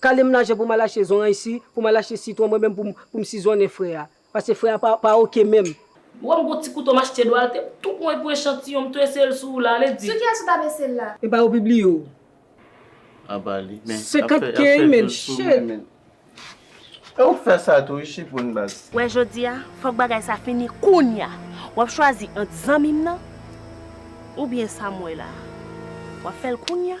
Kalem lajan pou mal achte zonray si pou mal achte sitron mwen menm poum poum sizonnen frè a pase frè a pa pa ok menm. Wèm gon ti kouto machte dwal te tou pwan epou echantiyon m tou eseyel sou ou la ale di. Sou kiyes ou tap esel la. Epa yo pibliye w. Aba li men lap fè lap fè views pou mwen men. E ou k fè sa tou wi chipoun baz. Wè jodia fòk bagay sa fini kounya wap chwazi ant zanmim nan oubyen sam wè la wap fèl kounya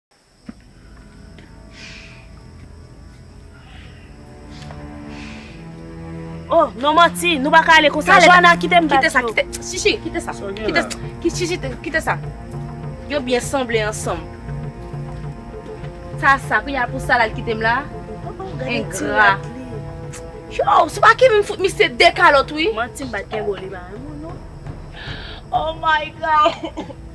Oh non manti, nou pa ka ale konsa. Joana kite m bat yo. Kite sa, kite. Shishi, kite sa. Sa gen la. Shishi, kite sa. Yo byen sanble ansanm. Sa sa, kou ya pou sa la l kite m la. Engra. Yo, se pa ki m fout misye de kalot wi. Manti m bat kenbo li pa renmen w non. Oh my God.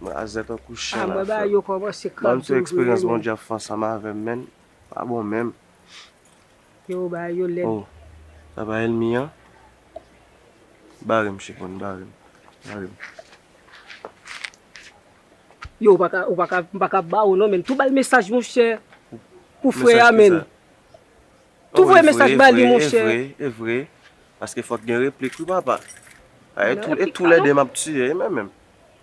Mwen aze tankou chen la frem. Banm ti experience bondye ap fe ansanm avem menn pa bon menm. Oh sa pa elmi an. Bare misye pou nou bare m. Bare m. Yo mpaka baw non menn tou bay mesaj monchè pou frè a menn. Tou voye mesaj ba li monchè. Evre evre evre paske fòk gen replik wi papa ay tou e tou lè de map tiye e mwen menm.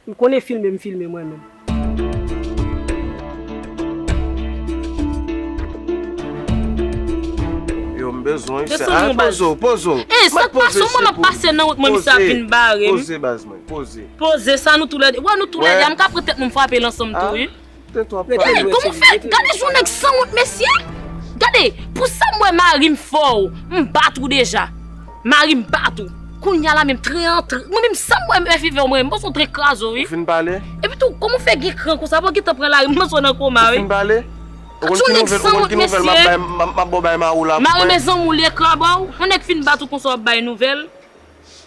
M konnen filme m filme mwen menm. Yo m bezwen wi sè a poze w poze w. Ey sak pase w mwen map pase nan wout mwen misye ap vin bare m. Poze poze baz mwen poze. Poze sa nou tou lè de wè nou tou lè de a m ka pran tèt mwen m frape l ansanm tou wi. Koman ou fè, gade sou nèg sanwont mesye, gade pou sa m wè mari m fò ou, m bat ou deja, mari m bat ou, kounya la menm tren an, mwen menm sa m wè mè fi fè ou mwen menm, m panse ou tren kraze ou wi, epi tou koman ou fè gen kran konsa, wap gentan pran lari m panse ou nan koma wi, gade sou nèg sanwont mesye, mari m e zanmi ou li ekra ba ou, yon nèg fin bat ou konsa wap bay nouvèl.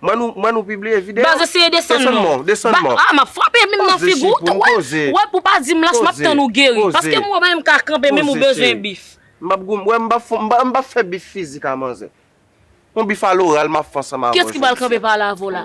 Manou manou pibliye video. Baz eseye desann mò. Desann mò desann mò. Ah map frape minm nan figou w tou wè wè pou pa dim lach map tann ou geri paske mwen menm ka kanpe minm ou bezwen bif. Map gou wè mpa fon mpa fè bif fizik a manzè. Yon bif a loral map fè ansanm avèw jodi a. Kiyès ki pral kanpe pale avè w la.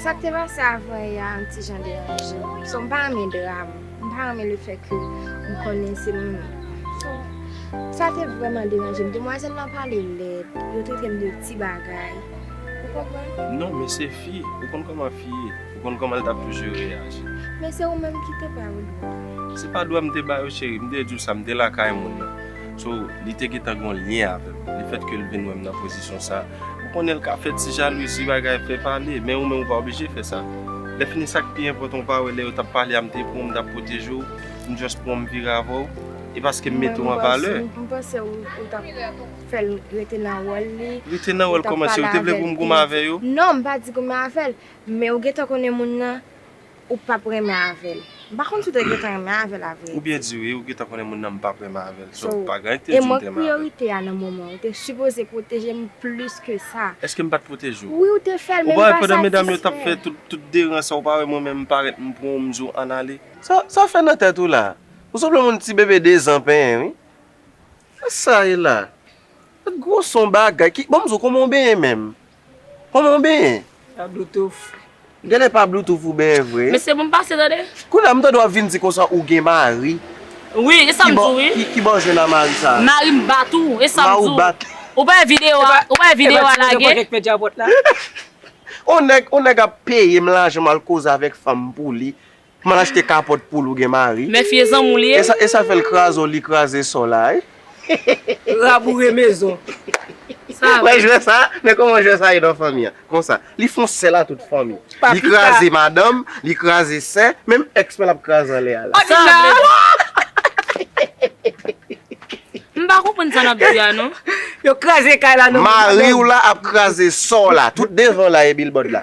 Sa k te pase avan yè a yon ti jan deranje m. So m pa renmen dram. M pa renmen le fè ke m konnen se m. So, sa te vrèman deranje m. Demwazèl lan pale lèd. Yo trete m de ti bagay. Ou konprann? Non, men se fi. Ou konn kòman fi ye. Ou konn kòman l t ap toujou reyaji. Men se ou menm ki te ba yo dwa. Se pa dwa m te ba yo cheri. M te di w sa. M te lakay moun nan. So, li te gentan gon lyen avèm. Le fèt ke li vin wèm nan pozisyon sa, ou konnen li ka fè ti jalouzi, bagay, fè pale. Men ou menm ou pa oblije fè sa. Lè fini sa ki pi enpòtan ou pa wè lè yo tap pale a m te pran w, m tap pwoteje w, m just pran w m vire avè w. E paske m mete w an valè. M panse ou tap fè l rete nan wòl li. Rete nan wòl kòman? Se ou te vle pou m goumen avè yo? Non, m pa di goumen avè l. Men ou gentan konnen moun nan. Ou pap renmen avèl. M pa konn si w te gentan renmen avè l la vre. Ou byen di wi, ou gentan konnen moun nan m pap renmen avè l. So, pa gen anyen k te di m te renmen avè l. E mank priyorite a nan moman an. Ou te sipoze pwoteje m plis ke sa. Eske m pa t pwoteje w? Wi ou te fè l, men m pa satisfè. Ou pa wè pandan medam yo t ap fè tout deran sa, ou pa wè mwen menm m parèt m pran w m di w ann ale. Sa w fè nan tèt ou la? Ou sanble yon ti bebe dezan penyen wi. Sa sa ye la? Gwo son bagay. Ki, bon m di w kòman w benyen menm? Koman ou benyen? Pa bloutouf. Genlè pa bloutouf ou benyen vre. Mesye bon pase tande. Kounye a m tande wap vin di konsa ou gen mari. Wi e sam di w wi. Kibò w jwenn a mari sa? Mari m bat ou e sam di w. Mari w bat. Ou pa wè video a ou pa wè video a lage. Epa ti moun yo paka fè djabot la. On nèg on nèg ap peye m lajan m al koze avèk fanm m pou li. Kman l achte kapòt poul ou gen mari. Men fye zanmou li ye. Esa fèl krazo li kraze son la wi. Raboure mezon. Sa vre. Wè jwè sa, men koman jwè sa ye nan fanmi an. Konsa. Li fon sèl a tout fanmi. Li kraze madanm, li kraze sè, menm ex mwen lap kraze anlè a la. Sa vle di. M pa konprann sa nap di a non. Yo kraze kay la nan. Mariw la ap kraze sò w la tout devan la e bilbòd la.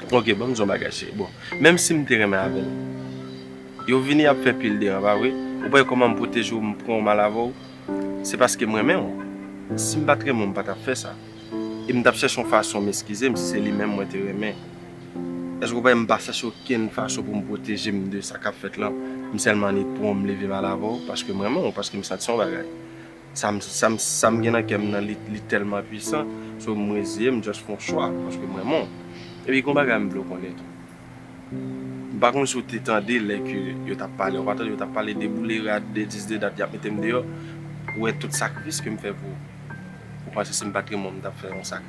Ok banm di yon bagay cheri bon menm sim te renmen avèl yo vini ap fè pil deran pa vre ou pa wè kòman m pwoteje w m pran w mal avè w se paske m renmen w sim pat renmen w m pa tap fè sa e m tap chèche yon fason m eskize m si se li menm mwen te renmen èske ou pa wè m pa chèche okenn fason pou m pwoteje m de sa kap fèt lan m sèlman annik pran w m leve mal avè w paske m renmen w paske m santi yon bagay. Sa m gen nan kè m nan li tèlman pwisan, so m reziye m just fon chwa paske m renmen w. Epi gon bagay m vle w konnen tou. M pa konn si w te tande lè ke yo t ap pale, ou pa tande yo t ap pale de boule rad, de dis, de dat y ap mete m deyò, ou wè tout sakrifis ke m fè pou ou. Ou panse si m pa t renmen w m t ap fè yon sakrifis?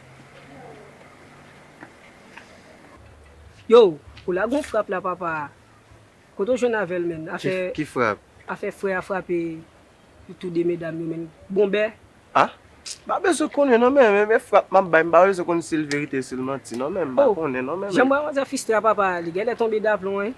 Yo! Ou lage yon frap la papa! Kote w jwenn avè l menn? Afè Ki frap? Afè frè a frape tou 2 medam yo menn. Bon bè! Ah! M pa bezwen konnen non men men men frap m ap bay m pa bezwen konnen si l verite si l manti non men m pa konnen non men men. Jan m wè manzè fistre a papa li gèlè tonbe daplon hein.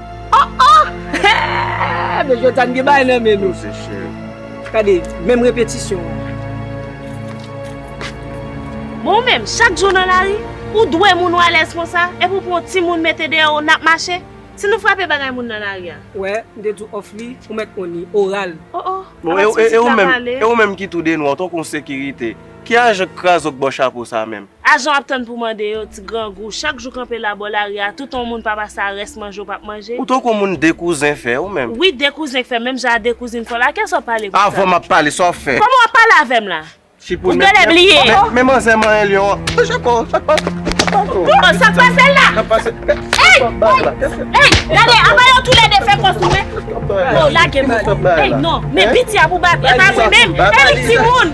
Oh oh Hee Men jodi a n gen bagay nan men nou Dose cheri Gade menm repetisyon an Bon ou menm chak jou w nan lari ou dwe moun ou alèz konsa epi w pran yon timoun mete dèyè w n ap mache Si nou frape bagay moun nan lari a. Wè m te di w off li ou mèt konn li Oral. Oh oh Bon e ou menm e ou menm ki tou denwa w tankou yon sekirite Ki ajan k kraze w k ba w chapo sa menm Ajan w ap tann pou mande yo, ti grangou, chak jou kanpe la bò lari a, tout on moun pa pase a rès manje w pap manje? Ou tankou moun de kouzen fè ou menm. Wi de kouzen k fè menm jan a de kouzin fè w la, kiyès w ap pale pou sa? Avan m ap pale, sa w fè? Kòman w ap pale avè m la? Ou genlè bliye yo? Men manzè manyen lyon an. Sa k pase la? Bon, sa k pase la? Ey! Ey! Gade, anba yo tou lè de fè kò sou men. Bon, lage m. Ey non, men piti a pou bat, e pa mwen menm. Ey timoun!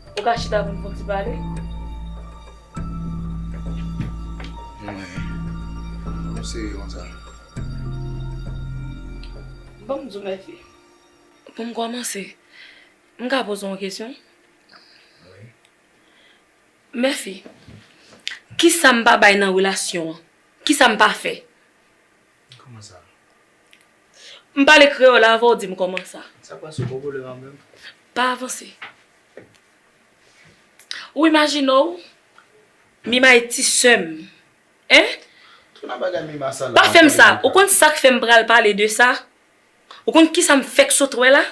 Ou ka chita pou n fon ti pale? Mwen. Mwen se yon sa. Bon, mzou mèsi. Pou m kòmanse, m ka poze yon kesyon? Wi. Mèsi. Kisa m pa bay nan relasyon an? Kisa m pa fè? Kòman sa? M pale kreyòl avè w di m kòman sa. Sa pa sou Bòbòlè a menm? Pa avanse. Ou imajine w Mima e ti sè m, hein? Tout nan bagay Mima sa la. Pa fè m sa! Ou konn sa k fè m pral pale de sa? Ou konn kisa m fèk sot wè la?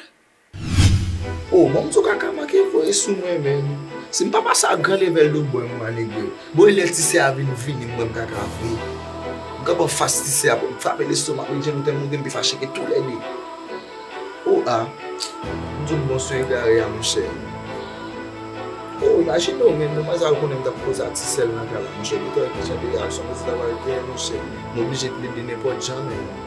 Oh banm ti kaka manke voye sou mwen menn sim pa pase ak gran level de bwen mwen anegre bon elè tisè a vin vini mwen kaka vre m kanpe anfas tisè a poum frape lestomak li jenn tèlman gen m te fache ke tou lède oh ah m sot bon sou egare a monchè oh imajine w menn demwazèl la konnen m tap koze a tisèl nan kay la monchè li tèlman chante gason m oblije plede nenpòt jan menn.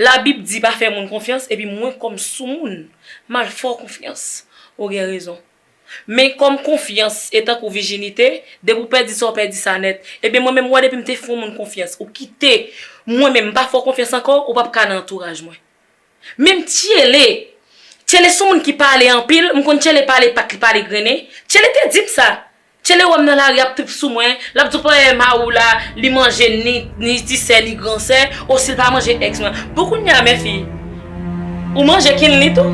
Labib di pa fè moun konfyans epi mwen kòm soumoun m al fè w konfyans. Ou gen rezon. Men kòm konfyans e tankou vijinite, depi w pèdi sa w pèdi sa nèt. Ebyen mwen menm wè depi m te fè w moun konfyans ou kite mwen menm m pa fè w konfyans ankò ou pap ka nan antouraj mwen. Menm Tchele, Tchele son moun ki pale anpil, m konn Tchele pale pat li pale grennen, Tchele te di m sa. Tchele wèm nan lari ap trip sou mwen, lap di w pa wè mari w la li manje ni ti sè ni gran sè, o si l pa manje ex mwen. Bon kounye a menfi ou manje kinly tou?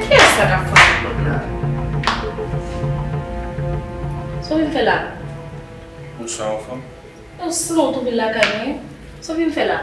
Kiyès sa kap frape pòt la? Sa w vin fè la? Bonswa fanm. Ou san w tou vin lakay mwen? Sa w vin fè la?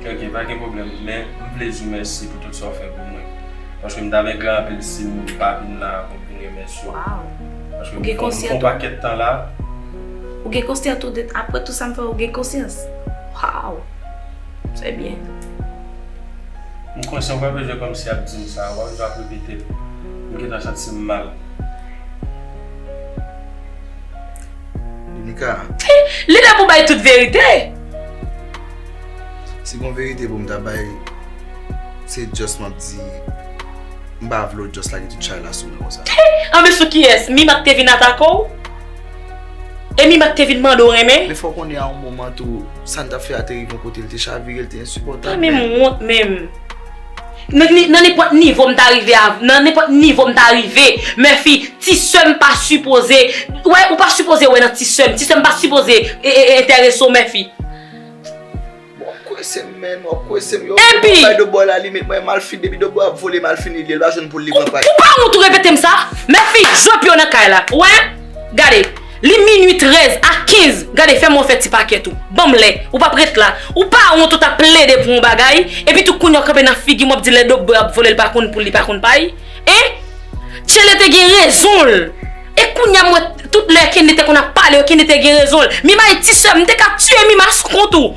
Ok ok pa gen pwoblèm men m vle di w mèsi pou tout sa w fè pou mwen paske m t ap regret anpil si m pa vin la pou m vin remèsye w paske m fè yon pakèt tan la Ou gen konsyans tou de aprè tout sa m fè w ou gen konsyans Waww Se byen M konsyan w pa bezwen kòmsi ap di m sa ou pa bezwen ap repete l m gentan santi m mal. Domica. Li lè pou bay tout verite. Si gon verite pou m ta bay, se just m ap di, m pa vle w just lage tout chay la sou mwen konsa. Anben sou kiyès? Mima k te vin atake w? E Mima k te vin mande w renmen? Men fò w konnen a yon moman tou, sa n t ap fè a te rive yon kote, li te chavire, li te ensipòtab. Mwen menm m wont menm. Nan nenpòt nivo m ta rive avm nan nenpòt nivo m ta rive Murphy ti sè m pa sipoze wè ou pa sipoze wè nan ti sè m ti sè m pa sipoze entèrese w Murphy Wap kwese m menn wap kwese m yo Epi Mwen bay de boy la li met mwen mal fini depi de boy ap vole mal fini li el pa jwenn poul li pran pay Ou pa wont ou repete m sa Murphy jwe pye w nan kay la ou wè gade. Li minwi 13 a 15 gade fèm wè w fè ti pakèt ou banm lè ou pap ret la ou pa wont ou tap plede pou yon bagay epi tou kounya w kanpe nan figim wap di lè dob bwe ap vole l pa konn poul li pa konn pay hein Tchele te gen rezon l e kounya m wè tout lè Kendy te konn ap pale yo Kendy te gen rezon l Mima e ti sè m m te ka tiye Mima sou kont ou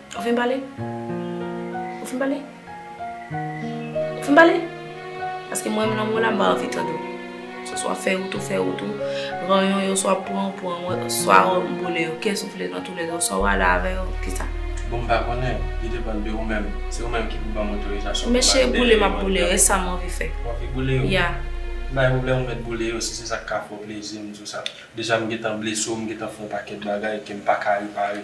Ou fin pale? Ou fin pale? Ou fin pale? Paske mwen menm lanmou w la m pa anvi tande w. Se swa fè wout ou fè wout ou, ranyon yo swa pran ou pran yo, swa ou boule yo, kès ou vle nan tou lè yo, swa w ale avè yo, ki sa? Bon m pa konnen, li depann de ou menm. Se ou menm ki pou ban m otorizasyon pou m ale dèyè yo. Mesye boule m ap boule yo, e sa m anvi fè? Ou anvi boule yo? Ya. Pa gen pwoblèm ou mèt boule yo si se sa k ka fè w plezi m di w sa. Deja m gentan blese w, m gentan fè w yon pakèt bagay ke m pa ka repare.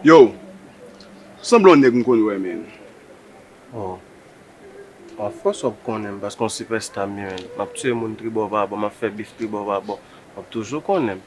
Yow, sanble yon nèg m konn wè menn. Oh, anfòs wap konnen m paske yon sipèsta m ye menn. Map tiye moun tribò pa bò, map fè bif tribò pa bò. Wap toujou konnen m.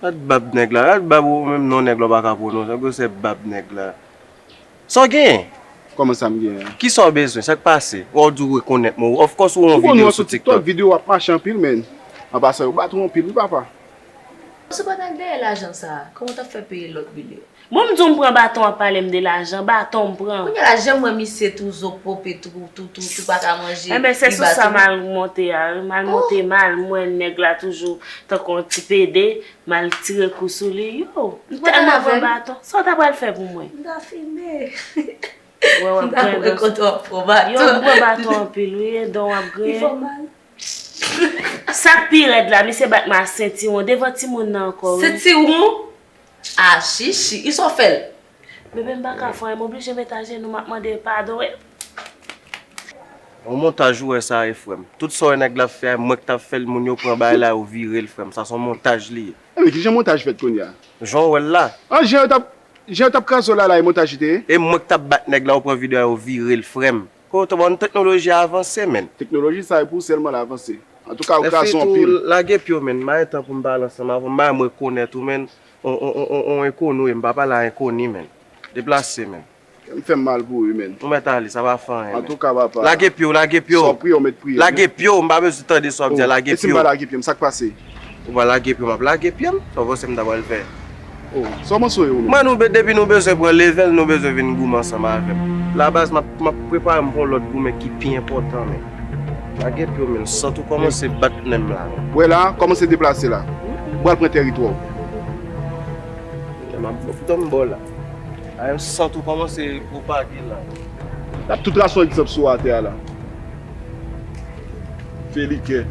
Gad bab nèg la, gad bab ou menm non nèg la ou pa ka pwononse, ou se bab nèg la. Sa w genyen? Kòman sa m genyen? Kisa w bezwen? Sa k pase? Ou a di w rekonèt mwen ou, ofkòs ou wè yon videyo sou tiktok. Videyo w ap mache anpil men, anba sa yo bat ou anpil wi papa. Sepandan dèyè lajan sa a, kòman w t ap fè peye lòt bil yo? Bon m di w m pran baton wap pale m de lajan, baton m pran. Kounye la janm wè misye tou zo pope tou tou tou tou paka manje Enben se sou sa mal monte a wi mal monte mal m wè nèg la toujou tankou yon ti pede mal tire kou sou li yow m tèlman pran baton sa w ta pral fè pou mwen m ta fime wè wap grendon yow m pran baton anpil wi e dan w ap griyen li fè w mal sak pi rèd la misye bat m a sentiwon devan timoun nan ankò wi sentiwon Ah shishi i so fel. Bebe m paka fon e m oblije met ajenou map mandel padon e. Bon montaj ou wè sa e frèm. Tout sa wè nèg la ap fè a mwen ki tap fèl moun yo pran bagay la yo virel frèm sa son montaj li ye. Anmweyy kijan montaj fèt kounya. Jan w wèl la. Ah jan yo tap kraze w la la e montaj li te ye. E mwen ki tap bat nèg la ou pran video a yo virel frèm. Ho to bon teknoloji a avanse menn. Teknoloji sa epou sèl mwen l avanse. Antouka ou kraze yon pil. Efetou lage pyew menn mayen tan poum pale ansanm avw mayen mwen rekonet ou menn on enkonou em pa pale a enkoni menn deplase menn. Kèm fèm mal pou u menn. Ou mèt ale sa pa fè anyen menn. Antouka papa. Lage pyew lage pyew. Sa wap priye ou mèt priye. Lage pyew m pa bezwen tande sa wap di a lage pyew. Esim pa lage pyem sak pase. Ou pa lage pye w map lage pye m Sa w panse m ta pral fè oh Sa w panse w ye Olo? Man depi nou bezwen pran level nou bezwen vin goumen ansanm avè m La baz map prepare m pou yon lòt goumen ki pi enpòtan men Lage pye w men m santi w kòmanse bat nen m la men Wè la, kòmanse deplase la Ou pral pran tèritwa w Lè map fè tout an m ba w la Aè m santi w kòmanse pwopage la Lap tout trason egzanp sou atè a la. fè li kè.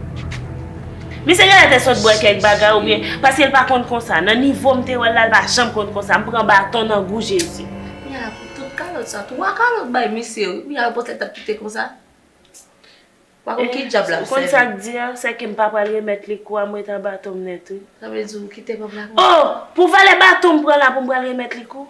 Misye genlè te sot bwè kèk bagay oubyen, paske l pa konn konsa, nan nivo m te wè l la l pa janm konn konsa, m pran baton nan gou Jezi. Mia pou tout kalòt sa, 3 kalòt bay misye wi, mia reponn tèt la pou kite konsa? M pa konn ki djab lap sèvi. Ou konn sak di a, se ke m pa pral remèt li kou a, m ret a baton m nèt wi. Sa vle di ou kite kòb la konsa? Oh! Pou valè baton m pran la pou m pral remèt li kou?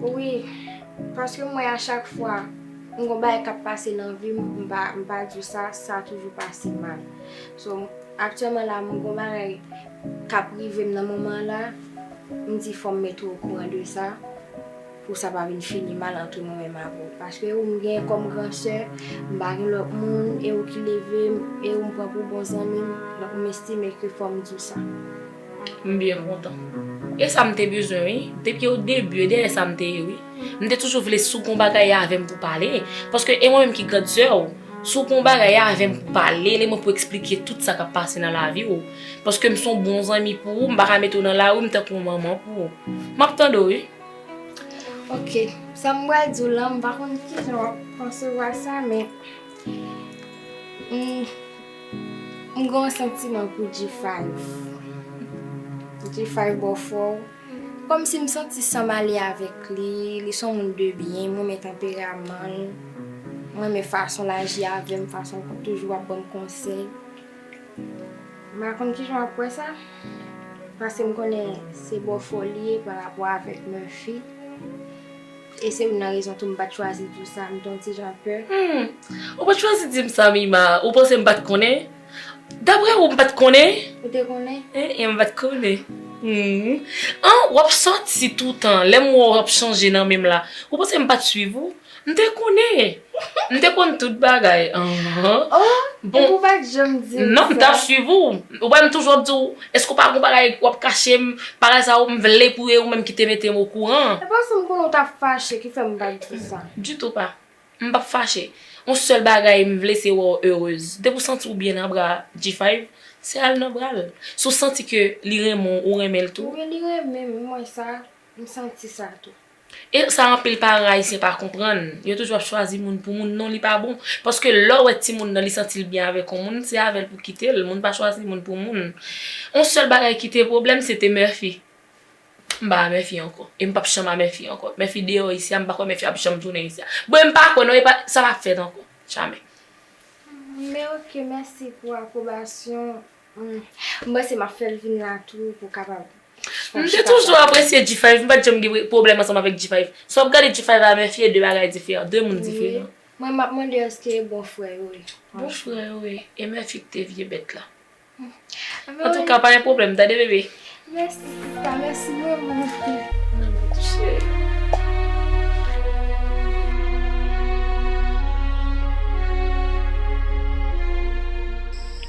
Wi, paske m wè a chak fwa m gon bagay k ap pase nan vi m, m pa m pa di w sa, sa toujou pase mal. So, aktyèlman la m gon bagay k ap rive m nan moman la, m di fò m mete w okouran de sa pou sa pa vin fini mal antre mwen menm avè w. Paske ou m gen kòm gran sè, m pa gen lòt moun, e ou ki leve m, e ou m pran pou bon zanmi m, donk m estime ke fò m di w sa. M byen kontan. E sa m te bezwen wi. Depi o debu e dèyè sa m te ye wi. M te toujou vle si w gen yon bagay avè m pou w pale. Paske e mwen menm ki grand sè w. Si w gen yon bagay avè m pou w pale, e mwen pou w eksplike tout sa k ap pase nan lavi w. Paske m se yon bon zanmi pou ou, m pa ka mete w nan lari, m tankou yon manman pou ou. M ap tande w wi. Ok. Sa m pral di w lan, m pa konn kijan w ap konsevwa sa men. M gen yon santiman pou G-5 G-5 bon fò Kòmsi m santi san m ale avèk li Li s on moun de byen M renmen tanperaman l M renmen fason l aji avè m Fason l toujou ap ban m konsèy M pa konn kijan w ap wè sa Paske m konnen se bòfò li ye Parapò avèk Murphy E se youn nan rezon tou m pa t chwazi di w sa, m te yon ti jan pè. Hum! Ou pa t chwazi di m sa, Mima? Ou panse m pa t konnen? Daprè ou, m pa t konnen? Ou te konnen? Eh en, m pa t konnen. Hum! An, w ap sòti toutan, lè m wè w w ap chanje nan men m la. Ou panse m pa t suiv ou? M te konnen! M te konn tout bagay. An, an. Oh! Epi w pa t janm di m sa? Non, m t ap suiv ou. Ou pa wè m toujou ap di w, Eske ou pa gon bagay wap kachem paraza ou m vle pou e ou menm ki te metem okouran. E pa sam konnen ou ta fache ki fèm pat di sa. Ditou pa. M pap fache. On sèl bagay m vle se wè w heureuse. Depi w santi w byen nan bra G-Five, se al nan bra l. Si w santi ke li renmen w ou renmen l tou. Wi li renmen m, m wè sa, m santi sa tou. E sa anpil paran ayisyen pa konprann, yo toujou ap chwazi moun pou moun non li pa bon. Paske lèw wè timoun nan li santil byen avèk on moun se avèl pou kitel, moun pa chwazi moun pou moun. On sèl bagay kite pwoblèm se te Murphy. Mpa a Murphy ankò. E mpap chanm a Murphy ankò. Murphy deyò isi a mpa kwè Murphy ap janm tounen isi a. Bon mpa kwè non epa sa pap fèt ankò. Jamè. Murphy mèsi pou apwobasyon M panse m ap fè l vin la tou pou kapab. M te toujou apresye G5, m pa t janm gen pwoblèm ansanm avèk G5. Si w ap gade G5 avèk Murphy e de bagay diferan, de moun diferan. Mwen m ap mande èske e bon frè yo ye. Bon frè yo ye. E Murphy ki te vye bèt la. Antouka pa gen pwoblèm tande bebe. Mèsi sista mèsi manman.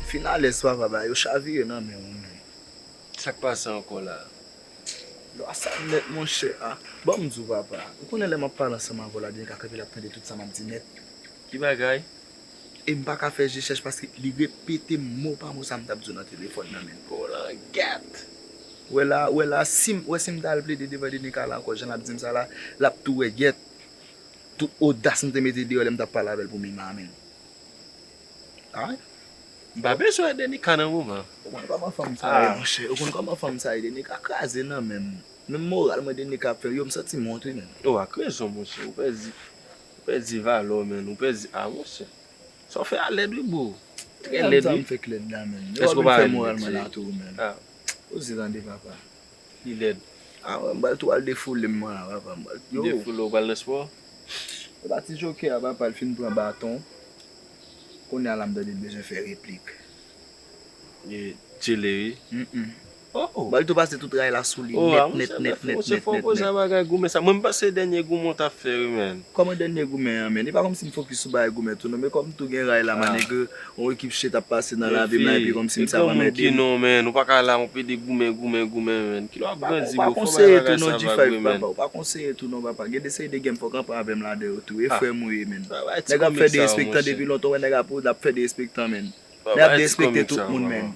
Finalès papa ba yo chavire nan menw wi menn. Sak pase ankò la. Lwa sa nèt monchè a. Banm diw papa, ou konnen lè map pale ansanm avèw la byenka kanpe lap tande tout sa map di nèt. Ki bagay? E m paka fè je chèch paske li repete m mo pa mo sa m tap di w nan telefòn nan menn oh langèt! Wè la, wè la sim, wè sim ta al plede devan Dener Calle ankò jan lap di m sa la, lap tou wè gèt tout odas m te mete deyò lè m tap pale avè l pou Mima menn. Ay! M pa bezwen wè Dener Calle nan moman. Ou konn kòman fanm sa ye monchè, ou konn kòman fanm sa ye Dener Calle kraze nan menm, menm moral mwen Dener Calle ap fè yo m santi m wont wi menn. Ou ak rezon monchè, ou pèdi. Ou pèdi valè w menn, ou pèdi ah monchè sa w fè a lèd wi bro, trè lèd wi. Èske w pa wè li lèd vre? Li lèd. Ah wè m pral twal defoule m la papa m pral yo. Defoule w pral nan spò? Epa ti jokè a papa l fin pran baton, kounya la m tande l bezwen fè replik. Li tchele wi. Oh oh. Bali tou pase tout ray la sou li nèt nèt nèt nèt nèt nèt. Monchè fè fò sa bagay goumen sa mwen panse se dènye goumen w tap fè wi menn. Kòman dènye goumen an menn e pa kòmsi m fokis sou bagay goumen tou non men kòm tou gen ray la ma nègre yon ekip shit ap pase nan lavi m la epi kòmsi m sa ap anmède m. Ou pa ka la yon pede goumen goumen goumen menn kilè wap grandi bro fò bay bagay sa va goumen menn. Ou pa konseye tou non papa gen de seri de game fòk anpè avè m ladan yo tou e frè m ou ye menn. Nèg ap fè derespektan depi lontan ou wè nèg ap ap fè derespektan menn. Nèg ap derespekte tout moun menn.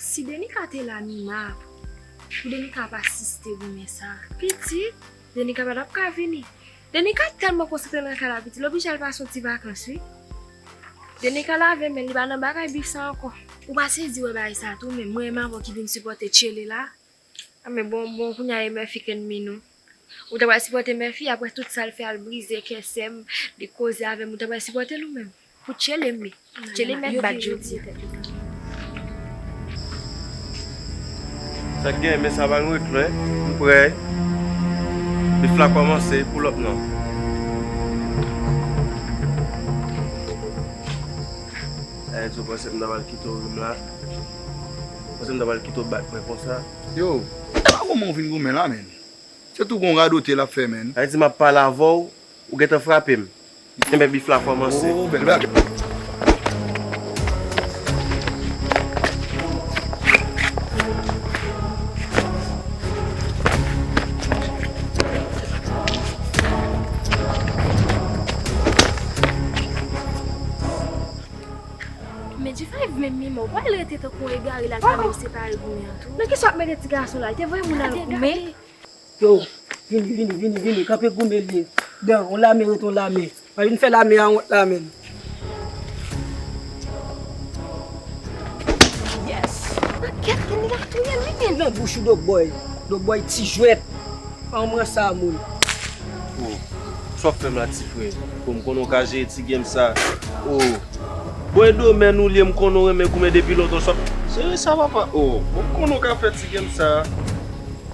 Si denika te la nina pou denika ap asiste goumen sa. Pitit denika pa tap ka vini. Denika tèlman konsantre nan kay la pitit l oblije al pase yon ti vakans wi. Denika lave men li pa nan bagay bif sa ankò. Ou pa sezi wè bagay sa tou menm. Mwen e mavo ki vin sipòte tchyele la. A men bon bon kounya e mèfi k ennmi nou. Ou ta pral sipòte mèfi aprè tout sal fè al brize kè sèm li koze avèm ou ta pral sipòtel ou menm. Pou tchelem li. Tchelem mèt bat jodi. Sak gen men sa bal ret lwen m prè bif la komanse pull up nan. Enzo panse m ta pral kite w rim la panse m ta pral kite w bat mwen konsa. Yo epa kòman ou vin goumen la menn se tou gon radote lap fè menn. Haiti map pale avèw Ou gentan frape m. Ebyen bif la kòmanse. Ooh bèl bagay. Men G5 menm mima ou pa wè l rete tankou yon egare l al kare yo separe goumen an tou. Nan kesyon ap mete ti gason la li te voye moun al goumen. Yo, vini, vini, vini, vini, kanpe goumen li ye. Dan, on lame rete on lame. Pa vin fè lame a wont la menn. Yes! Pakèt moun li ka touyem li menm. Nan bouch ou Dogbòy. Dogbòy ti jwèt. Pa on mwen sa moun. Oh, sa wap fèm la ti frè. Bon m konnen w ka jere ti game sa. Oh, bòy domèn ou li ye m konnen w renmen goumen depi lontan sa wap jere sa papa. Oh, bon m konnen w ka fè ti game sa.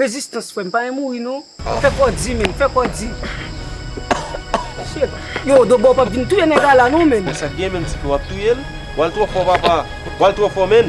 Rezistans frèm pa yon mouri non fè kò di menm fè kò di yo dobo pap vin touye nèga la non menm. Esak gen menm tipe wap touyel. Wal tro fò papa. Wal tro fò menn.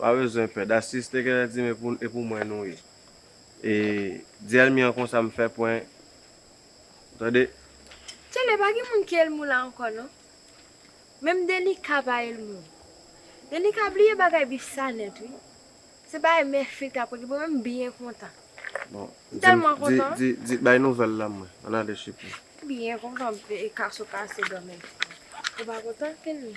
Ou pa bezwen pè. That's sis te genlè di me pou e pou mwen nou ye. E di elmi an konsa m fè pwen ou tande. Tcheley pa gen moun ki elmi w la ankò non. Menm Denica pa elmi w. Denica bliye bagay bif sa nèt wi. Se bagay mè fil kap règle pou mwen m byen kontan. Bon M tèlman kontan. Di di bay nouvèl la mwen an ale chipo. M byen kontan e kaso kase dòmi. Ou pa kontan elmi?